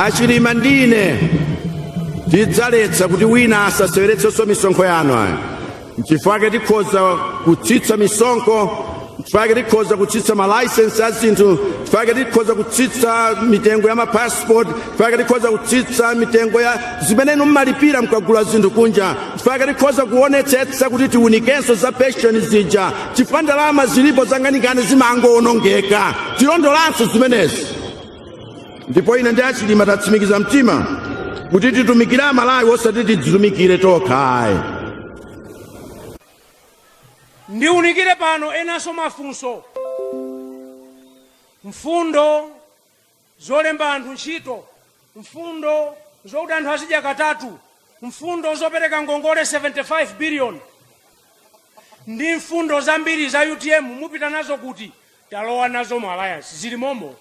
achilima ndine tidzaletsa kuti wina asaseweretsenso misonkho yanu ayi nchifukwa tikhoza kutsitsa misonkho nchifukwa tikhoza kutsitsa malaisensi a zinthu nchifukwa tikhoza kutsitsa mitengo ya mapasipoti nchifukwa tikhoza kutsitsa mitengo ya zimene inu mmalipira mkagula zinthu kunja nchifukwa tikhoza kuonetsetsa kuti tiunikenso za penshoni zija chifukwa ndalama zilipo zangwanjikani zimangowonongeka tilondolanso zimenezi ndipo ine ndi achilima tatsimikiza mtima kuti titumikire amalawi osati tidzitumikire tokha ayi ndiunikire pano enanso mafunso mfundo zolemba anthu ntchito mfundo zokuti anthu azidya katatu mfundo zopereka ngongole 75 billion ndi mfundo zambiri za utm mupita nazo kuti talowa nazo mu alliance zili momo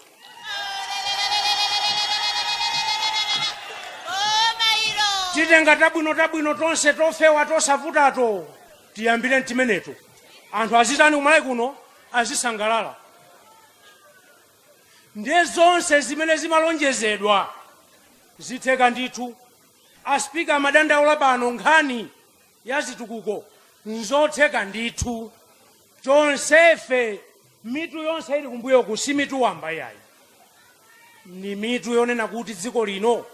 titenga tabwinotabwino tonse tofewa tosavutato tiyambire ntimeneto anthu azitani kumalawi kuno azisangalala ndiye zonse zimene zimalonjezedwa zitheka ndithu aspika amadandaula pano nkhani ya zitukuko nzotheka ndithu tonsefe mitu yonse ili kumbuyoku si mitu wamba yayi ni mitu yonena kuti dziko lino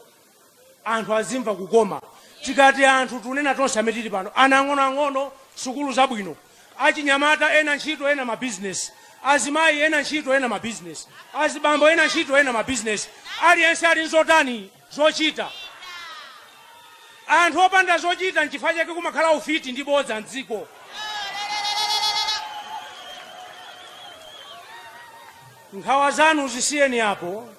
anthu azimva kukoma tikati anthu tunena tonse amene tili pano ana ang'onoang'ono sukulu zabwino achinyamata ena ntchito ena mabizinesi azimayi ena ntchito ena mabizinesi azibambo ena ntchito ena mabizinesi aliyense ali nzotani zochita. Anthu opanda zochita nchifukwa chake kumakhala ufiti ndi bodza m'dziko. Nkhawa zanu zisiyeni apo,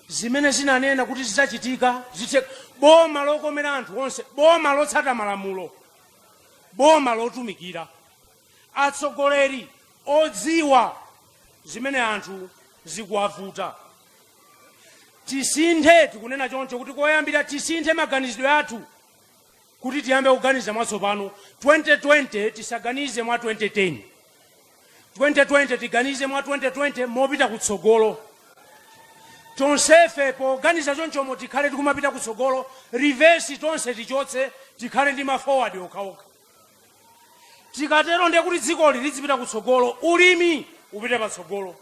zimene zinanena kuti zidzachitika zithe. Boma lokomera anthu onse, boma lotsata malamulo, boma lotumikira. atsogoleri odziwa zimene anthu zikuwavuta tisinthe tikunena choncho kuti koyambira tisinthe maganizidwe athu kuti tiyambe kuganiza mwatsopano 2020 tisaganize mwa 2010 2020 tiganize mwa 2020 mopita kutsogolo tonsefe poganiza chonchomo tikhale tikumapita kutsogolo reverse tonse tichotse tikhale ndi ma forward okhaokha tikatero ndiye kuti dzikoli lizipita kutsogolo ulimi upite patsogolo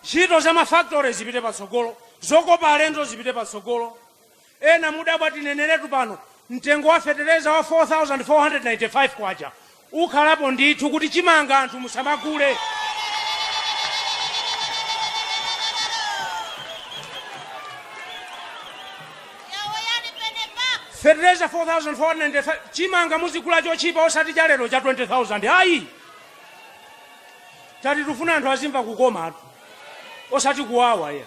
ntchito za mafactory zipite patsogolo zokopa alendo zipite patsogolo ena mudabwa tineneretu pano mtengo wa fetereza wa 4495 kwacha ukhalapo ndithu kuti chimanga anthu musamagule fetereza 4495 chimanga muzigula chotchipa osati cha lero cha 20000 ayi tati tufuna anthu azimva kukomatu osati kuwawa ayi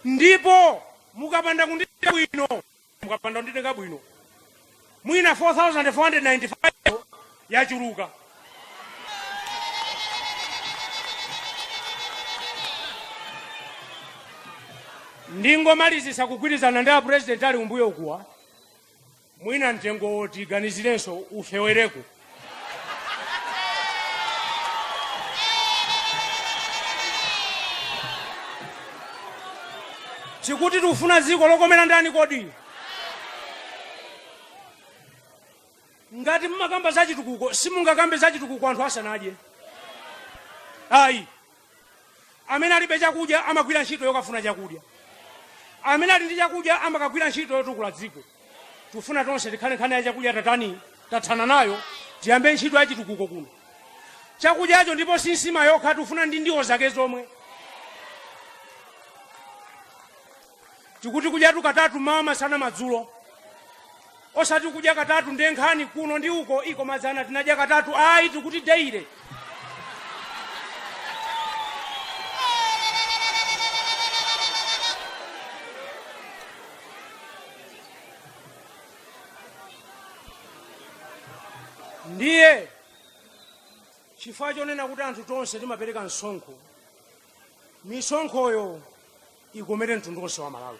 ndipo mukapanda kunditenga bwino mukapanda kunditenga bwino mwina 4495 yachuluka ndingomalizitsa kugwirizana ndi apurezidenti ali kumbuyokuwa mwina mtengowo tiganizirenso ufeweko tikuti tikufuna dziko lokomera ndani kodi ngati mumakamba za chitukuko simungakambe za chitukuko anthu asanadye ayi amene alibe chakudya amagwira ntchito yokafuna chakudya amene ali ndi chakudya amakagwira ntchito yotukula dziko tufuna tonse tikhale nkhani ya chakudya tatani tathana nayo tiyambe ntchito ya chitukuko kuno chakudyacho ndipo si nsima yokha tufuna ndi ndiwo zake zomwe tikuti kudyatu katatu mmawa masana madzulo osati kudya katatu ndiye nkhani kuno ndi uko iko madzana tinadya katatu ayi tikuti daily ndiye chifukwa chonena kuti anthu tonse timapereka msonkho misonkhoyo ikomere mtundu wonse wa malawi